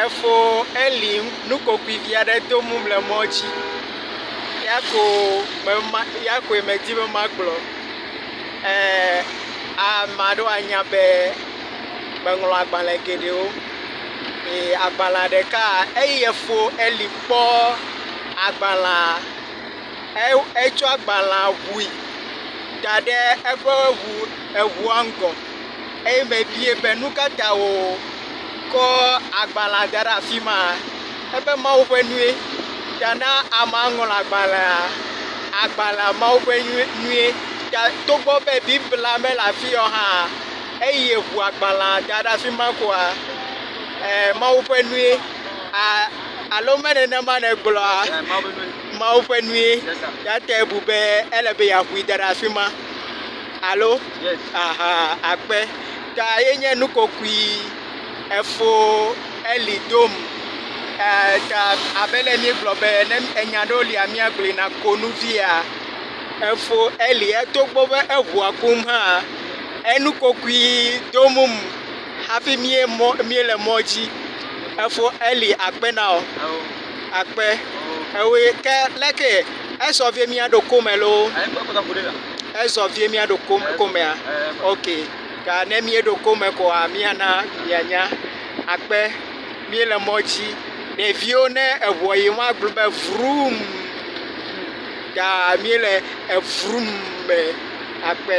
Efo Eli nukokoevi aɖe dom le mɔ dzi. Eya ko me ma eya koe medi be magblɔ. E ame aɖewo anya be meŋlɔ agbale geɖewo eye agbale ɖeka eyi efo Eli kpɔ agbalea e etsɔ agbalea ŋui da ɖe eƒe ŋu eŋua ŋgɔ. Eye mebie be, Nu ka ta wòkɔ agbalẽa da ɖe afi ma? Ebe, Mawu ƒe nue. Ta na amea ŋlɔ agbalẽa. Agbalẽa, Mawu ƒe nue. Ta togbɔ be Biblia mele afi ya o hã, eyi ŋu agbalẽa da ɖe afi ma koa, ɛɛ, Mawu ƒe nue. Aa alo me nenema nègblɔa? Mawu ƒe nue. Eya tae bu be ele be yeaŋui da ɖe afi ma. Alo, Aha akpe ta ye nye nu kokoe, efo eli dom ee ta abe ale míegblɔ be ne enya aɖewo lia míagblɔe na konuvia, efo eli togbɔ be eŋua kum hã enu kokoe dom hafi míe mɔ míele mɔ dzi. Efo eli akpe na wò. Eo. Akpe. Eoe ke leke esɔ vie míaɖo kome loo. Ezɔ vie míaɖo komea? Ok. Ta ne míeɖo kome koa, míana mianya. Akpe, míele mɔ dzi. Ɖeviwo ne eŋua yim woagblɔ be vrum. Ta míele evrum me. Akpe.